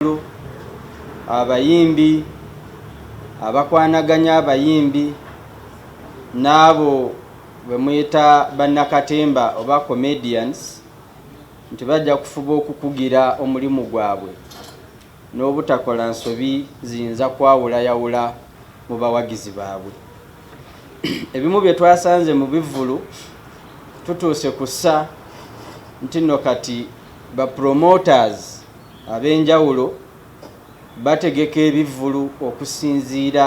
abakungu abayimbi abakwanaganya abayimbi n'abo bwe muyita bannakatemba oba comedians nti bajja kufuba okukugira omulimu gwabwe n'obutakola nsobi ziyinza kwawulayawula mu bawagizi baabwe ebimu bye twasanze mu bivvulu tutuuse ku ssa nti nno kati bapromoters ab'enjawulo bategeka ebivvulu okusinziira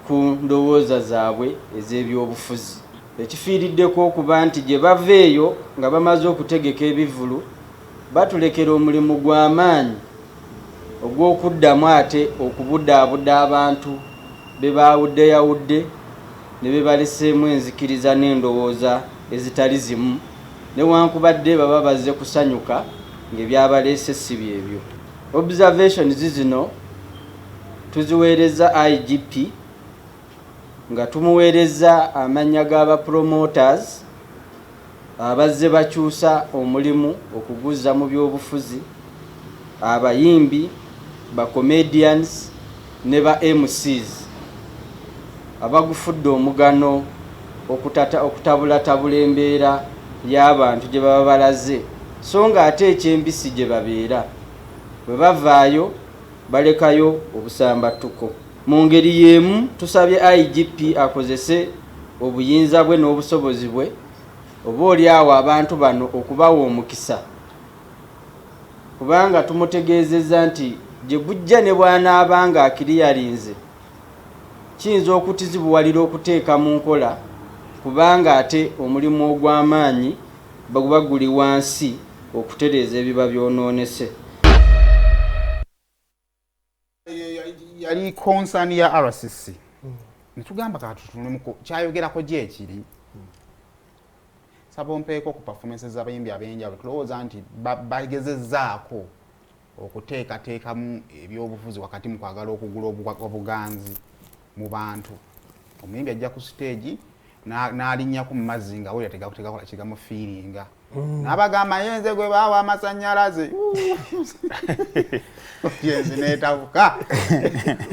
ku ndowooza zaabwe ez'ebyobufuzi ekifiiriddeko okuba nti gye bava eyo nga bamaze okutegeka ebivvulu batulekera omulimu gwa maanyi ogw'okuddamu ate okubudaabuda abantu be baawuddeyawudde ne be baleseemu enzikiriza n'endowooza ezitali zimu. newankubadde baba bazze kusanyuka ngebyabaleese ssi byebyo. Observations zino tuziweerezza IGP nga tumuweerezza amannya ga ba promoters abazze bakyusa omulimu okuguzza mu byobufuzi, abayimbi, ba comedians, ne ba MCs abagufudde omugano okutabulatabula embeera y'abantu gye baba balaze so nga ate ekyembisi gye babeera bwe bavaayo balekayo obusambattuko mu ngeri y'emu tusabye igp akozese obuyinza bwe n'obusobozi bwe oba oli awo abantu bano okubawa omukisa kubanga tumutegeezezza nti gye gujja ne bw'anaaba ng'akiriyalinze kiyinza okutuzibuwalira okuteeka mu nkola kubanga ate omulimu ogw'amaanyi guba guli wansi okutereeza ebiba byonoonese. yali konsani ya rcc hmm. netugamba katutunemuko kyayogerako gyekiri hmm. saba ompeeko ku performance zabayimbi abenjawulo tulowooza nti bagezezaako okuteekateekamu ebyobufuzi wakati mu kwagala okugula obuganzi mu bantu omuyimbi ajja ku siteegi n'alinyako mu mazzi nga wera tegakutegakola kigamufiiringa Mm. nabagamba ye nze gwe baawa amasanyalaze yenzi netabuka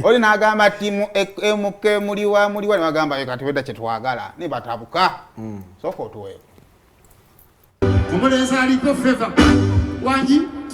oli nagamba ti mk e, muliwa muliwa nebagamba kati weda kyetwagala nebatabuka mm. soka otuweeko omulenzi aliko feva wangi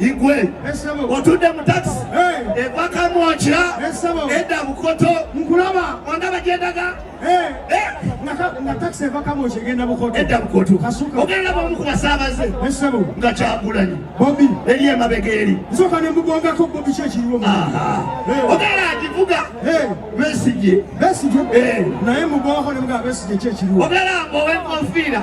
igwe otudde mu takisi eva kamwokya edda bukoto nkulaba ondaba gyendaga nga takisi eva kamwokya egenda bukoto edda bukoto ogenda bamu ku basaabaze nga kyagulanyi bobi eri emabega eri nsooka ne mugongako bobi kyo ekiriwo ogenda agivuga besigye besigye naye mugongako ne mugaba besigye kyo ekiriwo ogenda mbowe enkofiira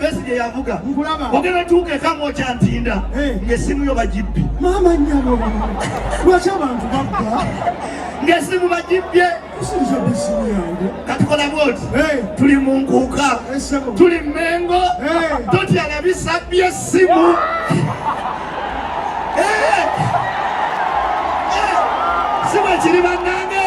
Besigye yavuga ogenda tuuka ekamu okya ntinda eh. ng'essimu yo bagibbi maama nyabo lwaki abantu babba ng'essimu bagibbye katukola bwoti eh. tuli mu nkuuka eh, tuli mmengo totya na bisa by'essimu si bwe kiri bannange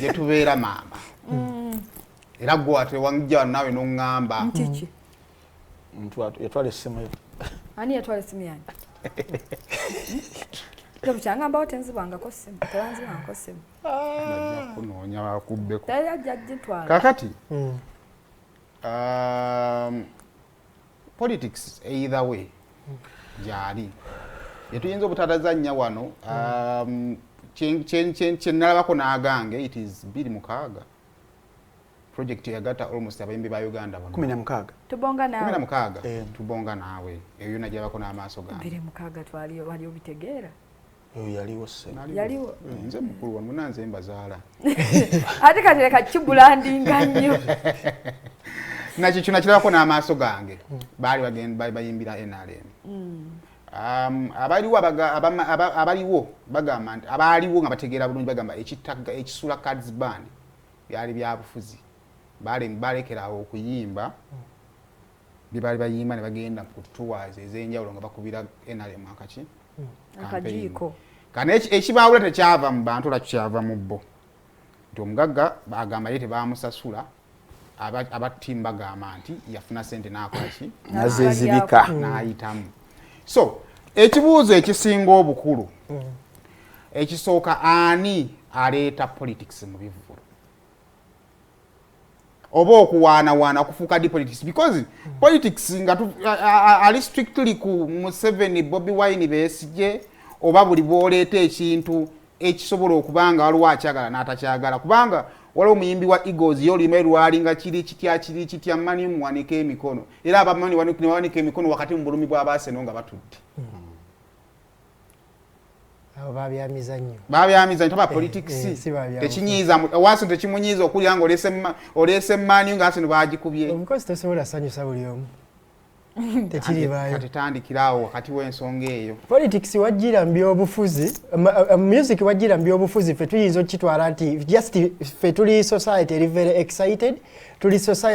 gyetubeera maama mm. era gwe ate wanjja wano naawe noŋŋamba yatwala essimu yo ani yatwala essimu yange kyangambao tenzibwangako simu tebanzibwangako simu kunoonya bakubbeko kakati um, politics either way gyali yetuyinza obutatazannya wano um, kyenalabako n'agange it is biri mukaaga project yagata almost abayimbi ba Uganda bano 16 tubonga nawe 16 eh. tubonga nawe eyo najabako na amaso gange 16 twali wali obitegeera oyo yaliwo yaliwo eh, nze mukulu wamwe nanze mbazaala ate kati leka kibulandinga nnyo nakyo kyo nakirabako n'amaaso gange baali bayimbira nrm mm. um, abaliwo abaliwo bagamba nti abaaliwo nga bategeera bulungi bagamba ekitagga ekisula cards band byali byabufuzi balekeraawo okuyimba mm. bye baali bayimba ne bagenda ku tours ez'enjawulo nga bakubira nrm akaki hmm. akajiiko kana ekibaawula tekyava mu bantu olwaki kyava mu bo nti omugagga agamba ye tebaamusasula aba tiimu bagamba nti yafuna sente n'akolaki nazezibika n'ayitamu so ekibuuzo ekisinga obukulu hmm. ekisooka ani aleeta politics mu bivvulu oba okuwaanawaana okufuuka di politics because politics nga ali strictly ku museveni bobi wine besigye oba buli bwoleeta ekintu ekisobola okuba nga waliwo akyagala n'atakyagala kubanga waliwo omuyimbi wa egos ye oluyimba lwali nga kiri kitya kiri kitya mani muwanika emikono era abamani nebawanika emikono wakati mu bulumi bw'abaaseno nga batudde hmm. abo babyamizanyo babyamizanyo taba eh, politics eh, tekinyiza waso tekimunyiza okulya nga olese olese mani nga asino bagikubye omukozi tesobola sanyusa buli omu tekiribayo tetandikirawo wakati w'ensonga eyo politics wajjira mu byobufuzi eh, music wajjira mu byobufuzi ffe tuyinza okukitwala nti just ffe tuli society eri very excited tuli society